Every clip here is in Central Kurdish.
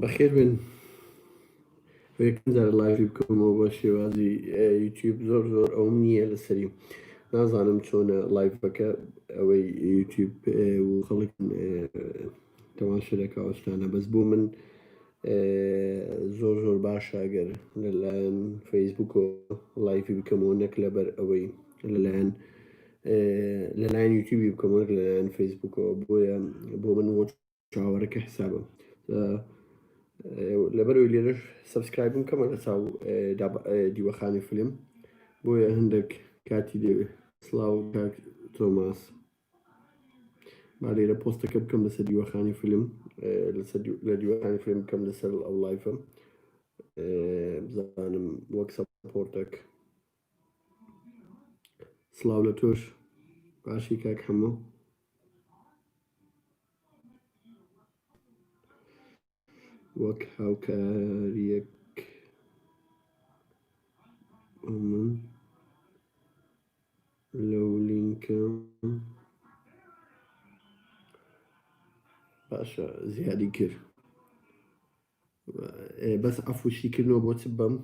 بەخێر بێن یەکەم جار لایڤی بکەمەوە بە شێوازی یوتیوب زۆر زۆر ئەوم نییە لەسەری نازانم چۆنە لایڤەکە ئەوەی یوتیوب و خەڵک تەواشە دەکەوەشتانە بەس بۆ من زۆر زۆر باشە گەر لەلایەن فەیسبوکەوە لایفی بکەمەوە نەک لەبەر ئەوەی لەلایەن لەلایەن یوتیوبی بکەمەوە نەک لەلایەن فەیسبوکەوە بۆیە بۆ من وەک چاوەڕەکە حسابە لەبەرەوەی لێرەش سبسکرایبم کەمە لە چاو دیوەخانی فلم بۆیە هەندێک کاتی دەوێت سلااو تۆماس با لێرە پۆستەکە بکەم لەسەر دیوەخانی فیلم لەسەر لە دیوەخانی فیلم بکەم لەسەر ئەو لایفە بزانم وەک سەپۆرتەک سلااو لە تۆش باشی کاک هەموو وەک هاوکارییەک بۆ من لەو لینکە باشە زیادی کرد ئێ، بەس عەفو شیکردنەوە بۆ چ بەم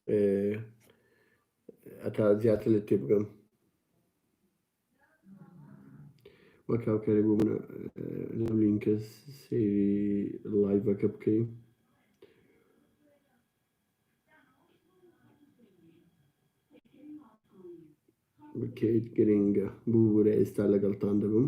ئێ، ئەتا زیاتر لە تێ بگەم وەک هاوکارێک بۆ منە لەم لینکە سەیری لایڤەکە بکەین بکەیت گرنگە ببوورە ئێستا لەگەڵتان دەبم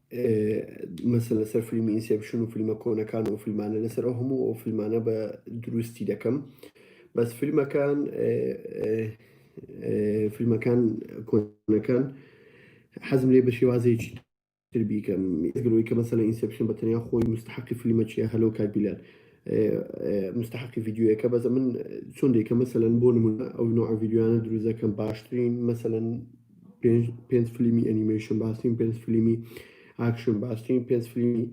مەسن لەسەر فیلمی ئینسێپشن و فیلمە کۆنەکان و فیلمانە لەسەر ئەو هەموو ئەو فیلمانە بە دروستی دەکەم بەس فیلمەکان فیلمەکان کۆنەکان حەزم لێ بە شێوازێکی تر بیکەم گرۆی کە مەسەلە ئینسپشن بە تەنیا خۆی مستحقی فیلمە چیە هەلو کاکبیلان مستحقی ڤیددیوەکە بەزە من چۆن دێکە مەسەن بۆ نمونە ئەو نوع ڤیددیوانە دروزەکەم باشترین مەسەن پێنج پێنج فلیمی ئەنیمەیشن باستین پێنج فلیمی ئاکشن باستین پێنج فلیمی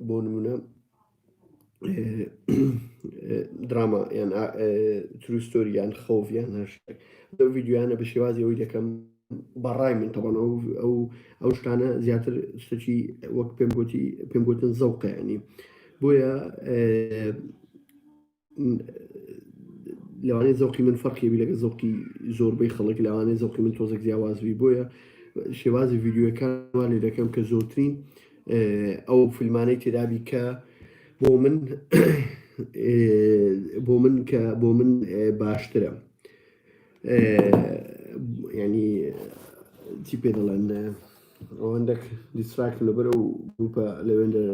بۆ نمونە دراما یان تروستۆری یان خەوڤیان هەر لەو ویددیویانە بە شێوازی ئەوی دەکەم بەڕای من تەبان ئەو ئەو ئەو شتانە زیاتر شتەکی وەک پێم گوتی پێم گوتن زەوقیانی بۆیە لەوانەیە زەوقی من فەرقیبی لەگە زەوقی زۆربەی خەڵک لەوانەیە زەوقی من تۆزێک جیاوازبی بۆیە شێوازی ڤیددیوەکانمان لێ دەکەم کە زۆرترین ئەو فیلمانەی تێدابی کە بۆ من بۆ من کە بۆ من باشترە ینی چی پێ دەڵێن ئەوەندەک دیسراکت لەبەر و گروپە لەوێندە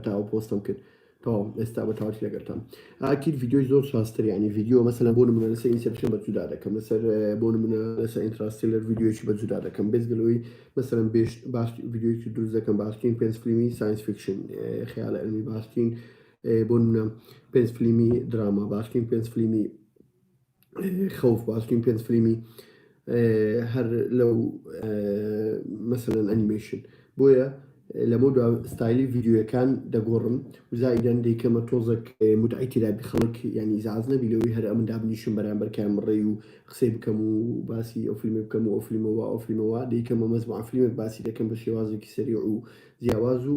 تاوە پۆستم کرد تەواو ئێستا بە تەواوی لەگەرتام ئاکیر ڤیدیۆی زۆر شاستر ینی ڤیدیۆ مەسەلا بۆ نمونە لەسەر ئینسپشن بە جودا دەکەم لەسەر بۆ نمونە لەسەر ئینتراستیلەر ڤیدیۆیی بە جودا دەکەم بێزگەلەوەی مەسەرم بێش باش ڤیدیۆیی دروست دەکەم باشترین پێنج فیلمی ساینس فیکشن خیال ئەلمی باشترین بۆ نمونە پێنج فیلمی دراما باشترین پێنج فیلمی خەوف باشترین پێنج فلیمی هەر لەو مەسەن ئەنیمەیشن بۆیە لەمە دو ستایلی ڤیددیوەکان دەگۆڕم وزایدەن دیکەمە تۆزەک متعی تیرابی خەڵک ینی زاز نەبی لەوەی هەر ئەمن دابنیشم بەرامبەرکان مڕێ و قسەی بکەم و باسی ئەو فیلمی بکەم و ئەو فیلمەوە ئەو فیلمەوە دیکەمە مەزمع فیلمێک باسی دەکەم بە شێوازێکی سەری و جیاواز و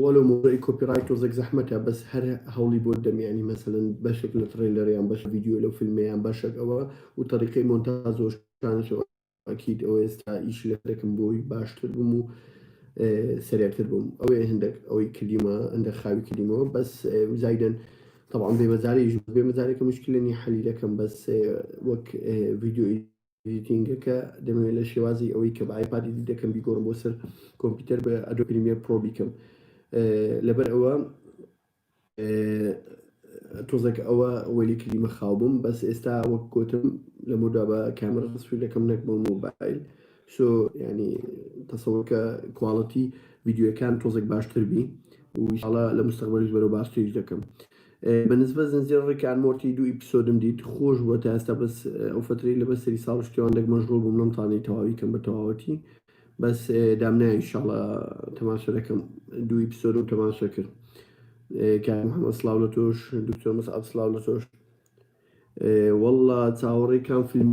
وە لۆ مۆزەعی کۆپیڕایت تۆزێک زەحمەتە بەس هەر هەوڵی بۆت دەم یانی مەسەلەن بەشێک لە تڕەیلەر یان بەشە ڤیدیۆ لەو فیلمە یان بەشەک ئەوە و تەریقەی مۆنتاز و شتانەش ئەوە ئەکید ئەوە ئێستا ئیش لەسەر دەکەم بۆی باشتر بم و سەرێعتر بم ئەوێ هەندێک ئەوەی کردیمە هەندێک خاوی کردیمەوە بەس زایدەن طبعا بێمەزارەیش بێمەزارێکە مشکلە نیە حەلی دەکەم بەس وەک ڤیدیۆی ئێدیتینگەکە دەمەوێت لە شێوازی ئەوەی کە بە ئایپاد ئێدیت دەکەم بیگۆڕم بۆ سەر کۆمپیوتەر بە ئەدۆ پریمیەر پرۆ بیکەم لەبەر ئەوە تۆزێک ئەوە وەلی کلیمە خاو بووم بەس ئێستا وەک گوتم لە مۆدا بە کامرە سوی دەکەم نەک بۆ مۆبایل سۆ ینی تەسەوەکە کوواڵەتی ویددیوەکان تۆزێک باشتر بی وشڵە لە مستەقبلش بەرەو باشتریش دەکەم بە نسبەت زنجیرە ڕیک ئان مۆرتی دوو ئیپسۆدم دیت خۆش بووە تا ئێستا بەس ئەو فەترەی لە بەسەری ساڵ و شتێوان دەک مەشغوڵ بووم نەمتوانی تەواوی کەم بە تەواوەتی بەس دام نایە ئینشاڵا تەماشا دەکەم دوو ئیپسۆدم تەماشا کرد کاک محەممەد سڵاو لە تۆش دکتۆر مەسعەد سڵاو لە تۆش واللە چاوەڕێی کام فیلم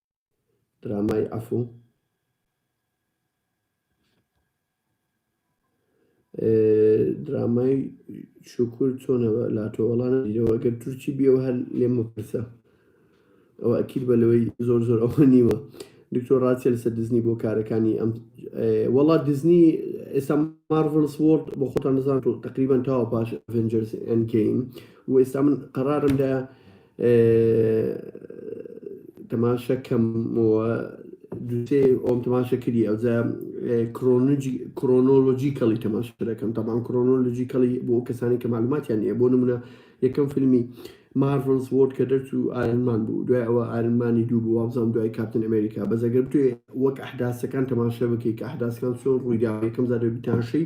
درامای عەفو درامای شکر چۆنەوە لاتۆ وەڵان دیەوە گەر تورکی بیەوە هەر لێم بپرسە ئەوە ئەکیل بە لەوەی زۆر زۆر ئەوە نیوە دکتۆر ڕاستە لەسە دزنی بۆ کارەکانی ئەم وەڵا دزنی ئێستا مارڤلس وۆرد بۆ خۆتان نزان تقریبان تاوە پاش ئەڤنجرس ئەنگەین و ئێستا من قەرارم لە تماشا کەم و دوو سێ ئۆم تماشا کردی ئەوجا کرۆنۆلۆجی کەڵی تماشا دەکەم تاان کرۆنۆلۆجی کەڵی بۆ کەسانی کە معلوماتیان نیە بۆ نمونە یەکەم فیلمی مارڤلز وۆرد کە دەرچوو ئارنمان بوو دوای ئەوە ئارنمانی دوو بوو وابزانام دوای کاپتن ئەمریکا بەزەگەر توێ وەک ئەحداسەکان تەماشە بکەیت کە ئەحداسەکان چۆن ڕوویدا یەکەم زاربیتانشەی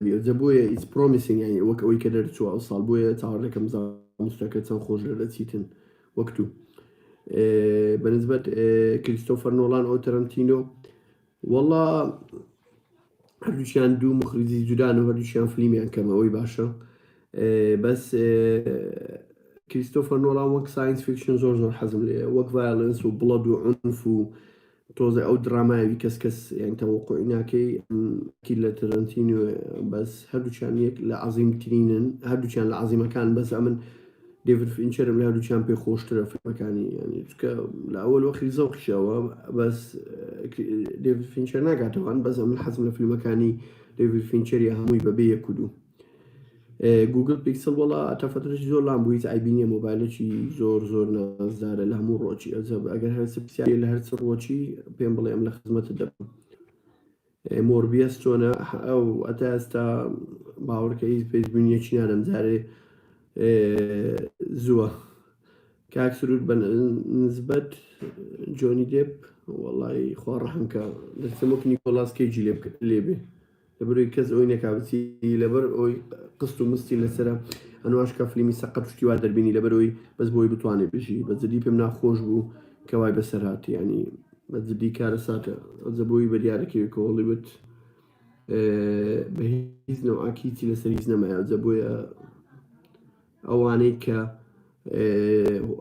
جا بۆیە it's promising یانی وەک ئەوەی کە دەرچووە ئەوساڵ بۆیە چاوەڕ دەکەم زانستەکە چەند خۆش دەرەچیتن وەک تو بەنسبەت کریستۆفەر نۆڵان ئەو تەرەنتینۆ وەڵا هەردووشیان دوو مخریزی جودان و هەردووشیان فلیمیان کەمەوەی باشە بەس کریستۆفەر نۆڵان وەک ساینس فیکشن زۆر زۆر حەزم لێ وەک ڤایلنس و بڵەد و عنف و تۆزێ ئەو درامایەوی کەس کەس یان تەوەقوعی ناکەی ئەم کی لە تەرەنتینۆ بەس هەردووچان یەک لە عەزیم ترینن هەردووچان لە عەزیمەکان بەس ئەمن دێڤید فینچەرم لە هەردووچان پێ خۆشترە فیلمەکانی یانی چکە لە ئەوەل وەخی زەوقیشەوە بەس دێڤید فینچەر ناگاتەوان بەس ئەمن حەزم لە فیلمەکانی دێڤید فینچەری هەمووی بەبێ یەک و دوو گوگل پیکسل وەڵا تا فترەش زۆر لام بوو هیچ ئایبی نییە مۆبایلێکی زۆر زۆر نازدارە لە هەموو ڕۆکی ئەزەب ئەگەر هەرچ پرسیاری لە هەرچ ڕۆکی پێم بڵێ ئەم لە خزمەتت دەبم مۆربیەس چۆنە ئەو ئەتا ئێستا باوەڕکە هیچ پێشبینیەکی نادەم جارێ زووە کاک سرود بە نسبەت جۆنی دێپ وەڵی خوا ڕەحمکە دەستم وەک نیکۆلاس کەیجی لێ بێ لەبەرئەوەی کەس ئەوی نەکا بچی لەبەر ئەوی قست و مستی لەسرە ئەنواش کا فلیمی سەقەت شتی وا دەربینی لەبەرەوەی بەس بۆی بتوانێت بژی بە جدی پێم ناخۆش بوو کەوای بەسەرات ینی بە جدی کارە ساتە ئەزەبووی بەریارەکەوی کۆڵی بت بە هیچ نەوعاکیی لەسەر هیچ نەمایە جە بۆیە ئەوانەی کە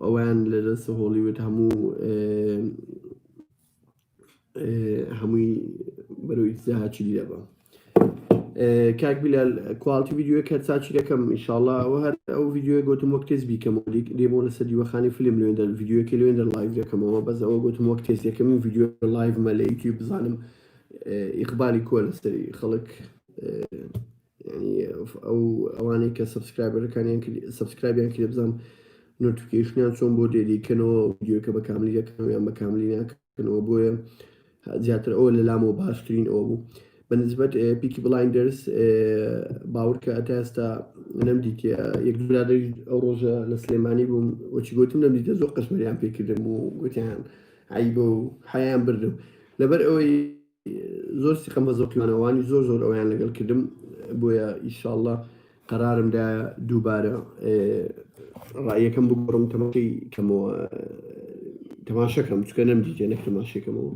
ئەویان لە دەست هۆڵیوت هەموو هەمووی بەرەو ئیتزاهاچی دەبم کاک بیلال کوالتی ویددیوە کە چاچی دەکەم ئیشاءله ئەو هەر ئەو ویددیوە گوتم وەک تێز بیکەم دێمۆ لەسەر دیوەخانی فیلم لوێندەر ویددیوەکی لوێندەر لایڤ دەکەمەوە بەس ئەوە گوتم وەک تێز یەکەم ویددیو لایڤمە لە یوتیوب بزانم ئیقبالی کۆ لەسەری خەڵک یەعنی ئەو ئەوانەی کە سەبسکرایبەرەکانیان کرد سەبسکرایبیان کردە بزانم نۆتیفیکەیشنیان چۆن بۆ دێریکەنەوە ڤیدیۆکە بە کاملی دەکەنەوە یان بە کاملی ناکەنەوە بۆیە زیاتر ئەوە لە لامەوە باشترین ئەوە بوو بە نسبەت پیکی بڵایندرس باورکە ئەتا ئێستا نەمدیتە یەک برادری ئەو ڕۆژە لە سلێمانی بووم وەچی گوتم نەمدیتە زۆر قەشمەریان پێکردم و گوتیان عیبە و حیان بردم لەبەر ئەوەی زۆر سیقەم بە زەوقی وانەوانی زۆر زۆر ئەویان لەگەڵ کردم بۆیە ئیشاڵڵە قەرارم دا دووبارە ڕایەکەم بگۆڕم تەمەشی کەمەوە تەماشەکەم چکە نەم دیتێ نەک تەماشەکەمەوە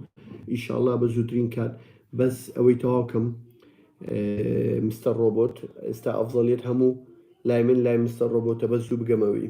ئیشاڵڵا بە زووترین کات بەس ئەوەی تەواوکەم مستەر ڕۆبۆت ئێستا ئەفزەڵیت هەموو لای من لای مستەر ڕۆبۆتە بە زوو بگەمەوەی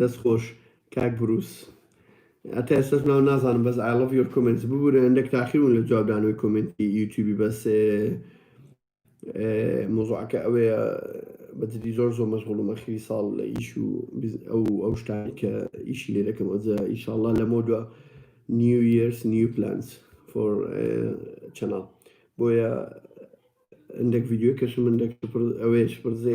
دەست خۆش کاک بروس هەتا ئێستاش ناو نازانم بەس I love your comments ببورە هەندێک تاخیر بوون لە جوابدانەوەی کۆمێنتی یوتیوبی بەس مۆزوعەکە ئەوەیە بەجدی زۆر زۆر مەشغوڵم ئەخیری ساڵ لە ئیش و ئەو ئەو شتانی کە ئیشی لێ دەکەم ئەوجا ئیشاءاللە لەمەو دووە نیو یرس نیو پلانس فۆر چەناڵ بۆیە هەندێک ڤیدیۆ کەشم هەندێک ئەوەیە شپڕزێ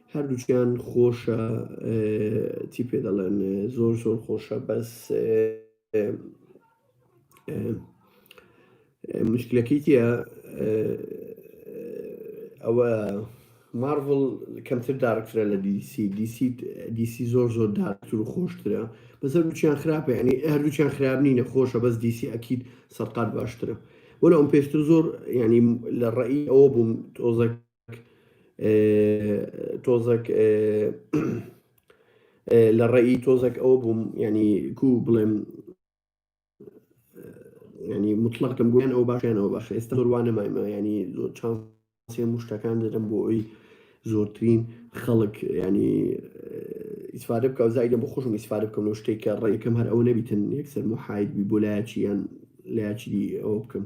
هەردووکیان خۆشە چی پێ دەڵێن زۆر زۆر خۆشە بەس مشکلەکەی تە ئەوە مارڤڵ کەمتر دارکترە لە دیسی دیسی دیسی زۆر زۆر دارکتر و خۆشترە بەس هەردووچیان خراپە ینی هەردووچیان خراپ نینە خۆشە بەس دیسی ئەکییت سەرقات باشترە وەلەم پێشتر زۆر ینی لە ڕێی ئەوە بووم تۆزەک تۆزەک لە ڕێی تۆزەک ئەوە بووم ینی کو بڵێم ینی مطلقم گویان ئەو باشیان ئەو باش ئێستا ڕوانە مایمە ینی چان سێ مشتەکان دەدەم بۆ ئەوی زۆرترین خەڵک ینی ئیسفادە بکە و زایدە بۆ خۆشم ئیسفادە بکەم لەو شتێک کە ڕێکم هەر ئەو نەبیتن یەکسەر محید بی بۆ لایەکی یان لایەکی ئەوە بکەم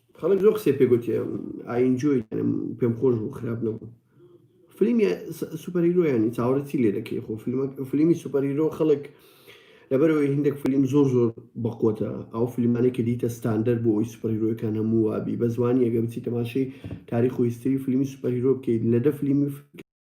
خەڵک زۆر قسەی پێ گۆتی ئای ئینجۆی پێم خۆش بوو خراپ نەبوو فلیمی سوپەر هیرۆ یانی چاوەڕێ چی لێ دەکەی خۆ فیلمە فلیمی سوپەر هیرۆ خەڵک لەبەرەوەی هندێک فلیم زۆر زۆر بەقوتە ئەو فیلمانەی کە دیتە ستاندەر بۆ ئەوی سوپەرهیرۆەکان هەموو وابی بە زمانی ئەگە بچی تەماشەی تاریخ و هیستری فلیمی سوپەرهیرۆ بکەیت لە دە فلیمی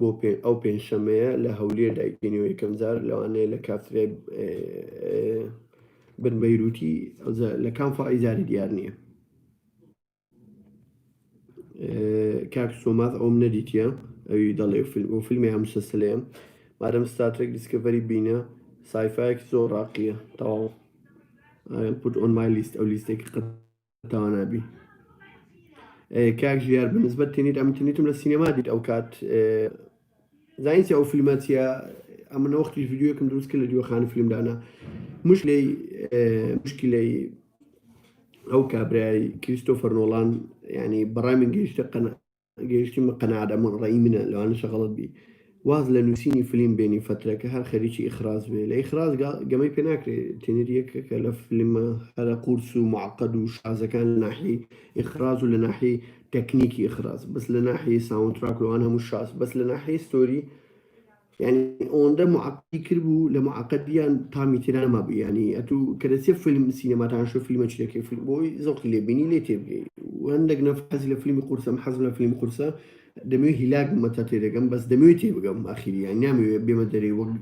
بۆ ئەو پێنجشەمەیە لە هەولێر دایبینەوە یەکەمجار لەوانەیە لە کافتریای بن بەیروتی لە کام فڕی زاری دیار نییە کاک سۆماز ئەوم نەدیتە ئەوی دەڵێ فیلم و فیلمی هەمسەسلەیە مادەم ستاتێک دیسکەڤەری بینە سایفایەک زۆر ڕاقیە تەواو پوت ئۆن مای لیست ئەو لیستێکی قەت تاوانابی کاک ژیار بنسبەت تێنیت ئەم تنیتم لە سینەما دیت ئەو کات زانسی ئەو فیلمە چیە ئەمە نەوەختی یددیوەکەم دروست کرد لە دیوەخانی فیلمدانە مش لی مشکی لی ئەو کابرای کریستۆفەر نۆڵان ینی بەڕای من گەیشتە قەنە گەیشتیمە قەناعەت ئەمە ڕەئی منە لەوانەشە غەڵەت بی واز لە نووسینی فلیم بێنی فەترەکە هەر خەریکی ئیخراز بێ لە ئیخراز گەمەی پێ ناکرێ تینر یەکە کە لە فلیمە هەرە قورس و معقد و شازەکان لە ناحیەی ئیخراز و لە ناحیەی تەکنیکی ئیخراز بەس لە ناحیەی ساوندتراک لەوان هەموو شاز بەس لە ناحیەی ستۆری یانی ئەوەندە معقدی کردبوو لە معقدیان تامی تێدا نەمابوو یانی ئەتوو کە دەچێ فیلم سینەماتان شو فیلمە چرەکەی فیلم بۆی زەوقی لێ بینی لێ تێ بگەی و هەندێک نەف حەزی لە فیلمی قورسەم حەزم لە فیلمی قورسە دەمەوێت هیلاک بمە تا تێ دەگەم بەس دەمەوێت تێ بگەم ئاخیری یان نامەوێت بێمە دەرێ وەک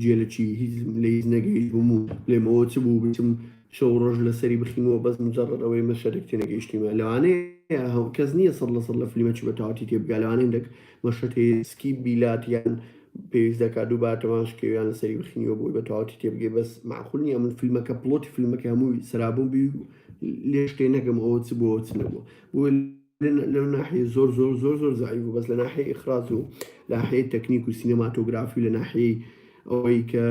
جێ لە چی هیچ لە هیچ نەگەیش بووم و لێمەوە چ بوو بچم شەو ڕۆژ لەسەری بخینەوە بەس مجرد ئەوەی مەشەرێک تێنەگەیشتیمە لەوانەیە هەو کەس نییە سەد لە سەد لە فیلمە چی بە تەواتی تێ بگا لەوانەیە هەندێک مشتهیسکی بیلات یان پێویست دەکات دووبارە تەماش کەی و یان لەسەری بخینیەوە بۆی بە تەواوەتی تێبگەی بەس مەعقول نییە من فیلمەکە پڵۆتی فیلمەکە هەمووی سەرابوون بی و لێش تێ نەگەم ئەوە چ بۆ چ نەبووە بۆیە لە لەو ناحیە زۆر زۆر زۆر زۆر زەعیف بوو بەس لە ناحیەی ئیخراج و لە ناحیەی تەکنیک و سینەماتۆگرافی و لە ناحیەی ئەوەی کە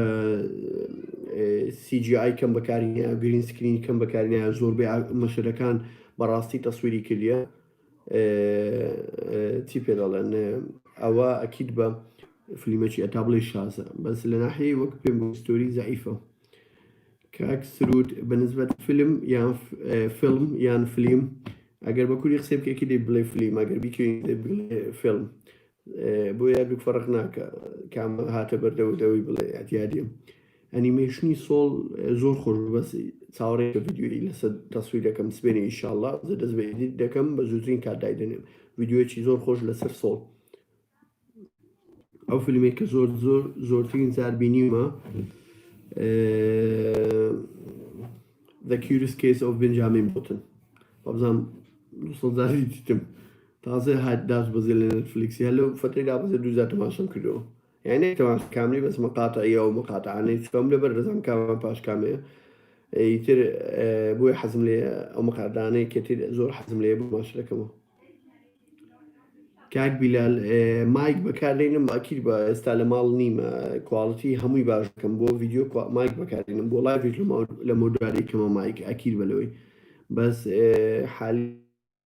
سی جی ئای کەم بەکاری هەیە گرین سکرینی کەم بەکاری هەیە زۆربەی ئا- مەشەدەکان بەڕاستی تەسویری کردیە چی پێ دەڵێن ئەوە ئەکید بە فلیمەکی ئەتا بڵێ شازە بەس لە ناحەیە وەک پێم ستۆری زعیفە کاک سرود بەنسبەت فیلم یان فیلم یان فلیم ئەگەر بە کوری قسەی بکەکی دەی بڵێ فلیم ئەگەر بیکەین بڵێ فیلم بۆیە دوو فەرق ناکا کام هاتە بەردەوەت ئەوەی بڵێ ئەتیادیم ئەنیمێشنی سۆڵ زۆر خۆش بوو بەس چاوەڕێ کە ڤیدیۆی لەسەر تەسویر دەکەم سبێنێ ئینشاڵڵا زە دەست بە ئیدیت دەکەم بە زووترین کات دایدەنێم ڤیدیۆیەکی زۆر خۆش لەسەر سۆڵ ئەو فیلمێک کە زۆر زۆر زۆرترین جار بینیمە The Curious Case of Benjamin Button بەبزانام دوسەزاری دیتم تازە هات داس بەزێ لە نێتفلیکس یان لەو فەترەی دابەزێ دوو جار تەماشەم کردەوە یان نەک تەماشا کاملی بەس مقاطعیە ئەو مقاطعانەی چکەم لەبەر دەزانم کامیان پاش کامەیە ئیتر بۆیە حەزم لێ ئەو مقاطعانەی کەتر زۆر حەزم لێ بماش دەکەمەوە کاک بیلال مایک بەکاردێنم ئەکیر بە ئێستا لە ماڵ نیمە کوالڵتی هەمووی باش بکەم بۆ ڤیددیو مایک بەکاردێنم بۆ لای لە مۆداری کەمە مایک ئەکیر بەلەوەی بەس حالی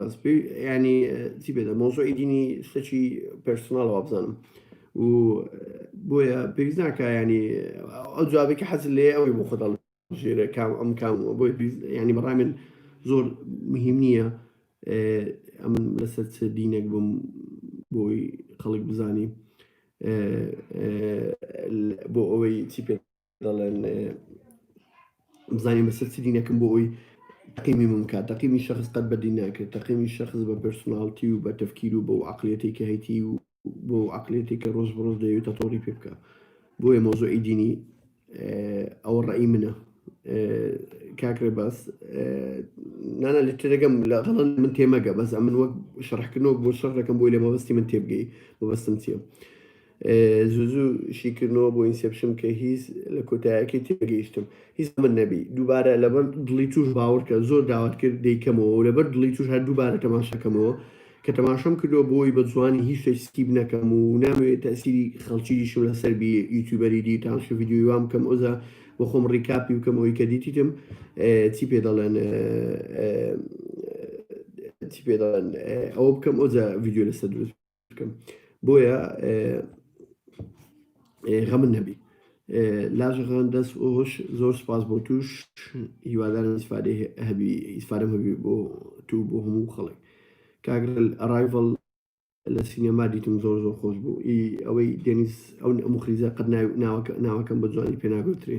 بەس پێ- ینی چی بێدە مۆزۆی دینی شتەکی پرسناڵەوە بزانم و بۆیە پێویست ناکە ینی ئەو جوابێکی حەز لێ ئەوەی بۆ خۆتاڵ ژێرە کام ئەم کام و بۆی پێویست- ینی بەڕای من زۆر مهم نییە اه، ئەمن لەسەر چ دینێک بم بۆی خەڵک بزانی اه، اه، بۆ ئەوەی چی پێ دەڵێن بزانین بەسەر چ دینەکەم بۆ ئەوی تەقیمی من بکات تەقیمی شخص قەت بە دین ناکرێت تەقیمی شخص بە پرسناڵتی و بە تەفکیر و بە و عقلێتی کە هەیتی و بۆ عقلێتی کە ڕۆژ بڕۆژ دەوێت تەتۆڕی پێ بکە بۆیە مۆزۆی دینی ئەوە ڕێی منە کاکرێ باس نانا لە تێدەگەم لە غەڵن من تێمەگە بەس ئەمن وەک شەڕحکردنەوە بۆ شەڕ دەکەم بۆی لە مەبەستی من تێبگەی مەبەستم چیە؟ زوو زوو شیکردنەوە بۆ ئینسێپشن کە هیز لە کۆتایەکەی تێگەیشتم هیز ئەمن نەبی دووبارە لەبەر دڵی توش باوەڕکە زۆر داوات کرد دەیکەمەوە و لەبەر دڵی توش هەر دووبارە تەماشاکەمەوە کە تەماشام کردوە بۆی بە جوانی هیچ شتێک سکیپ نەکەم و نامەوێ تەئسیری خەڵکی دیشم لەسەر بی یوتیوبەری دی تانشە ڤیدیۆی وام بکەم ئۆزە بۆ خۆم ڕیکاپی بکەم ئەوی کە دیتیتم چی پێ دەڵێن چی پێ دەڵێن ئەوە بکەم ئۆزە ڤیدیۆ لەسەر دروست بکەم بۆیە غەمن نەبی لاژەغان دەست ئۆش زۆر سپاس بۆ توش هیوادارم ئیسفادێ هەبی ئیسفادەم هەبی بۆ تو بۆ هەموو خەڵک کاگرل ئەرایڤڵ لە سینەما دیتم زۆر زۆر خۆش بوو ئی ئەوەی دێنیز ئەو ئەم خریزە قەت ناوەکە ناوەکەم بە جوانی پێناگوترێ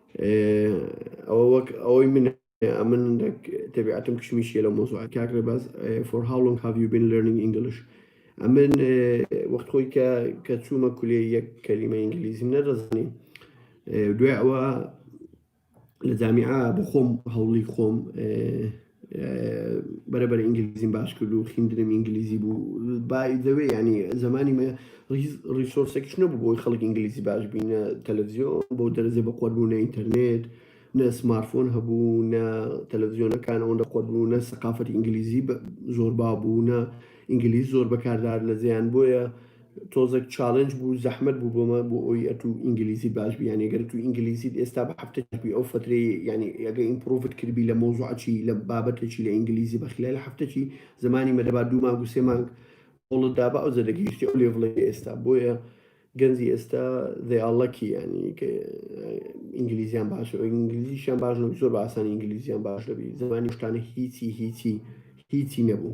ئەوە وەک ئەوەی من ئەمن تەبیعەتم کشمیشیە لە مۆزوع کاک ڕێباز for how long have you been learning English ئەمن وەخت خۆی کە کە چوومە کولێ یەک کەلیمە ئینگلیزیم نەدەزانیم دوای ئەوە لە جامیعە بخۆم هەوڵی خۆم بەرەبەر ئینگلیزیم باش کرد و خیندرم ئینگلیزی بوو بایدەوێ ینی زمانی من ڕیسۆرسێکش نەبوو بۆی خەڵک ئینگلیزی باش بینە تەلەڤزیۆن بۆ دەرزێ بە قۆربوونە ئینتەرنێت نە سمارفۆن هەبوو نە تەلەڤزیۆنەکان ئەوەن لە قۆربوو نە سەقافەت ئینگلیزی زۆر بابوو نە ئینگلیز زۆر بەکاردار لە زیان بۆیە تۆزەک چالنج بوو زەحمەت بوو بۆمە بۆ ئەوی ئەتو ئینگلیزی باش بی یانی گەر تو ئینگلیزیت ئێستا بە هەفتە چی ئەو فترەی یانی ئەگە ئیمپڕوڤت کردبی لە مەوزوعە چی لە بابەتە چی لە ئینگلیزی بە خلال هەفتە چی زمانی مە دەبا دوو مانگ و سێ مانگ هەوڵت دابا ئەوجە دەگەیشتی ئەو لێڤڵەی ئێستا بۆیە گەنجی ئێستا they are lucky یانی کە ئینگلیزیان باشە ئینگلیزیشیان باش نەبوو زۆر بە ئاسانی ئینگلیزیان باش دەبی زمانی شتانە هیچی هیچی هیچی نەبوو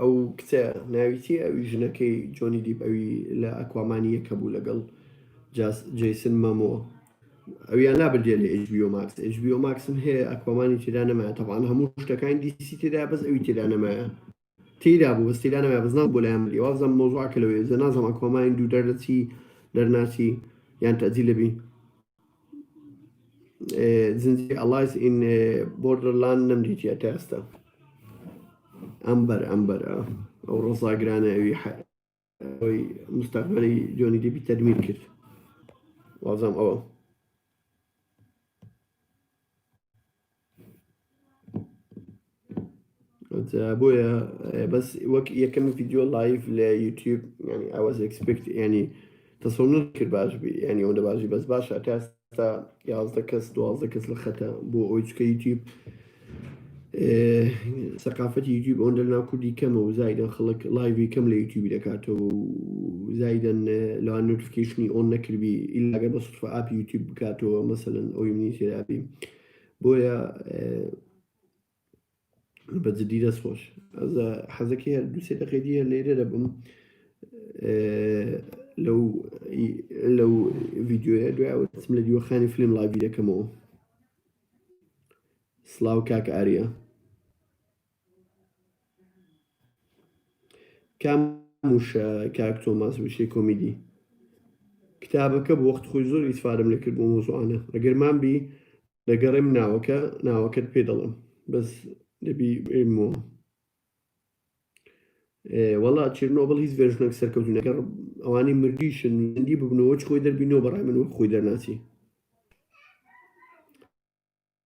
ئەو کچە ناوی چیە ئەوی ژنەکەی جۆنی دیپ ئەوی لە ئەکوامانی یەکە بوو لەگەڵ جیسن مەمۆ ئەویان لابردێ لە HBO Max HBO Max هەیە ئەکوامانی تێدا نەمایە تەبان هەموو شتەکانی دیسی تێدا بەس ئەوی تێدا نەمایە تێدا بوو بەس تێدا نەمایە بەس ناو بۆ لایان بری وازم مۆزوعکە لەوێ زە نازم ئەکوامانی دوو دەرەچی دەرناچی یان تەجی لەبی زنجیرەی ئەڵایس ئین بۆردەرلاند نەمدیتیە تا ئێستا ئەمبەر ئەمبەر ئەو ڕۆزاگرانە ئەوی ئەوی مستەقبەری جۆنی دیبی تەرمیم کرد وازم ئەوە بۆیە بەس وەک یەکەم ڤیددیو لایف لە یوتیوب ینی ئاواز ئەکسپکت ینی تەسەونر کرد باش بی ینی ئەوەندە باشی بەس باشە تا ئێستا یازدە کەس دوازدە کەس لە خەتە بۆ ئەوی چکە یوتیوب سەقافەتی یوتیوب ئەوەن لە ناو کوردی کەمە و زایدن خەڵک لایوی کەم لە یوتیوبی دەکاتەوە و زایدن لە نوتفکیشنی ئەوۆن نەکردبی ئیلاگە بە سوفە ئاپی یوتیوب بکاتەوە مەسەن ئەوی منی تێدابی بۆیە بە جدی دەست خۆش حەزەکە هەر دو سێ دەقەی دیە لێرە دەبم لەو لەو ڤیددیوە دوایوەسم لە دیوەخانی فلم ڵاوی دەکەمەوە سلااو کاک ئارە کام وشە کاک تۆماس وشەی کۆمیدی؟ کتابەکە بوو وەخت خۆی زۆر ئیسفادەم لێ کرد بۆ مۆزوعانە ئەگەر مان بی دەگەڕێم ناوەکە ناوەکەت پێ دەڵێم بەس دەبی بێمەوە وەڵا چرنۆبڵ هیچ ڤێژنێک سەرکەوتنە گەڕ ئەوانی مردیشن زندی ببنەوە چ خۆی دەربینەوە بەڕای من وەک خۆی دەرناچی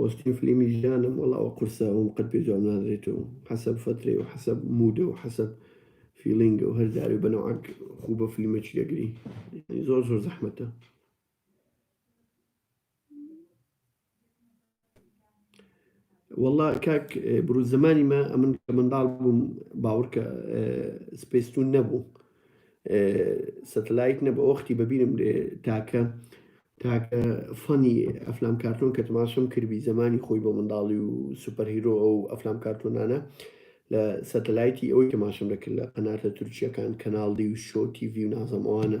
پۆستی فلیمی ژانم وەڵا ئەوە قورسە ئەوم قەت پێ جواب نادرێتەوە حەسەب فەترەی و حەسەب مودە و حەسەب فیلینگە و هەر جارێ بەنەوعەک خوو بە فلیمەکی دەگری زۆر زۆر زەحمەتە. وەڵا کاک بروس زەمانی مە ئەمن کە منداڵ بووم باوڕکە سپێستون نەبوو سەتەلایت نەبە ئۆختی بەبیرم لێ تاکە تاکە فەنی ئەفلام کارتۆن کە تماشم کردبی زمانی خۆی بۆ منداڵی و سوپەر هیرۆ ئەو ئەفلام کارتۆنانە لە سەتەلایتی ئەوی تماشم دەکرد لە قەناتە تورکیەکان کەناڵدی و شۆ تیڤی و نازەمەوانە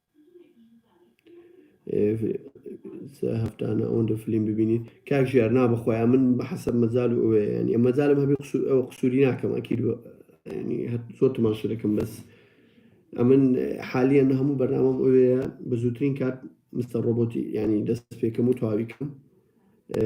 هەفتانە ئەوەندە فلیم ببینیت کاک ژیار نا بەخۆیان من بە حەسەب مەجال و ئەوەیە یعنی مەجالم هەبێ قسو- ئەوە قسووری ناکەم ئەکید و- یعنی هەر زۆر تماشا دەکەم بەس ئەمن حالییەن هەموو بەرنامەم ئەوەیە بە زووترین کات مستەر ڕۆبۆتی یعنی دەست پێکەم و تەواوی کەم ئێ،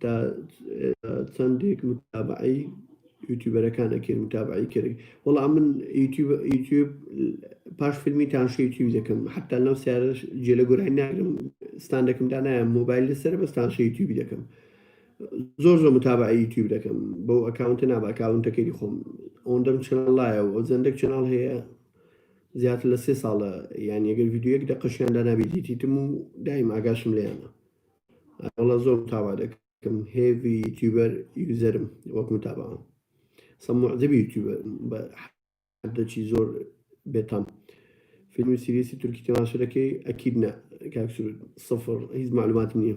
تا چەندێک متابعی یوتیوبەرەکان ئەکرد متابعی کرد وەڵام من یوتیوب پاش فیلمی تاشی یوتیوب دەکەم حتا لەم سیارە جێ لە گۆرانی ناگرم ستان دەکەم دا نایە مۆبایل لەسەر بە تاشی یوتیوب دەکەم زۆر زۆر متابعی یوتیوب دەکەم بۆ ئەکاونتە نابکاونتەکەی خۆم ئەوەندەم چناڵایە و ئەو زەندێک چناڵ هەیە زیاتر لە سێ ساڵە یانیە گەر ڤیدیۆ یەک دەقەشیان دانابی دیتیتم و دایم ئاگاشم لێیانە وەڵا زۆر متابا دەکەم هێڤی یوتیوبەر یوزەرم وەک متاباوان سە معجبی یوتیوبەر بە حدەچی زۆر بێتام فیلم و سیریسی تورکی تەماشە دەکەی ئەکید نە کاکسرود سفر هیچ معلوماتم نییە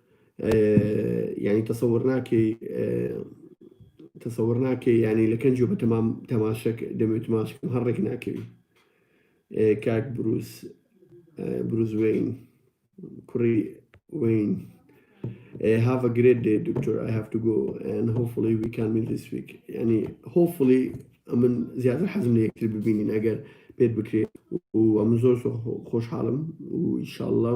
یانی تەسەور ناکەی تەسەور ناکەی ینی لە کەنج بە تەمام تەماشک دەمێ تماشکم هەڕێک ناکەوی کاک بروس بروز وین کوڕی وین Uh, have a great day, Doctor. I have to go, and hopefully we can meet this week. يعني hopefully ئەمن زیاتر حەزم لە یەکتر ببینین ئەگەر پێت بکرێت و ئەمن زۆر خۆشحاڵم و ئیشاءله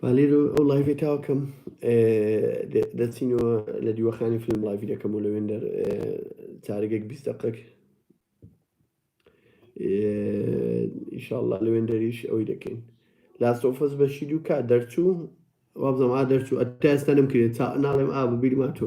با لێرە ئەو لایڤێ تاوا کەم دەچینەوە لە دیوەخانی فیلم لایڤی دەکەم و لەوێن دەر چارگێک بیست دقێک ئیشاءاللە لەوێن دەریش ئەوی دەکەین لاسۆفەس بەشی دوو کا دەرچوو وابزم ئا دەرچوو ئەتا ئێستا نەم کرێت ناڵێم ئا ببیرما تۆ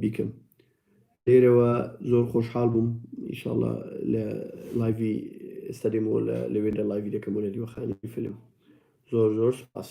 بیکەم لێرەوە زۆر خۆشحاڵ بووم ئیشاڵا لە لایڤی ئێستا دێمەوە لە لەوێدا لایڤی دەکەمەوە لە دیوەخانی فیلم زۆر زۆر سپاس